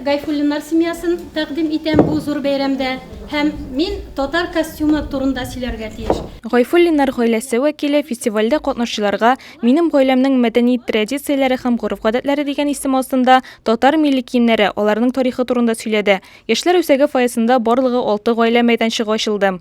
Гайфуллиннар семьясын тәкъдим итәм бу зур бәйрәмдә һәм мин татар костюмы турында сөйләргә тиеш. Гайфуллиннар гаиләсе вәкиле фестивальдә катнашучыларга Минем гаиләмнең мәдәни традицияләре һәм гореф-гадәтләре дигән исем астында татар милли киемнәре, аларның тарихы турында сөйләде. Яшьләр үзәге фойесында барлыгы алты гаилә мәйданчыгы ачылды.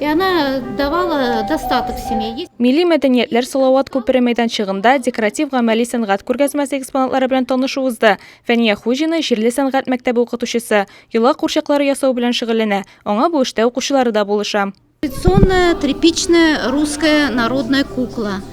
И она давала достаток семье. Милли мәдәниятләр Салават күпере мәйданчыгында декоратив-гамәли сәнгать күргәзмәсе экспонатлары белән танышу узды. Фәния Хуҗина җирле сәнгать мәктәбе укытучысы, йола курчаклары ясау белән шөгыльләнә. Аңа бу эштә укучылары да булыша. Традиционная тряпичная русская народная кукла.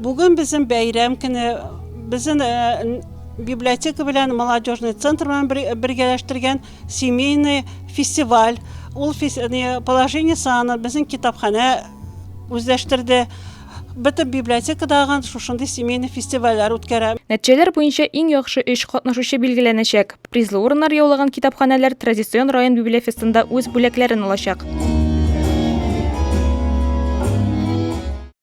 Бүген безнең бәйрәм көне. Безнең э, библиотека белән молодежный центр белән бергәләштергән семейный фестиваль. Ул положение саны безнең китапханә үзләштерде. Бөтен библиотекадагы шушындый семейный фестивальләр үткәрә. Нәтиҗәләр буенча иң яхшы өч катнашучы билгеләнәчәк. Призлы урыннар яулаган китапханәләр традицион район библиофестында үз бүләкләрен алачак.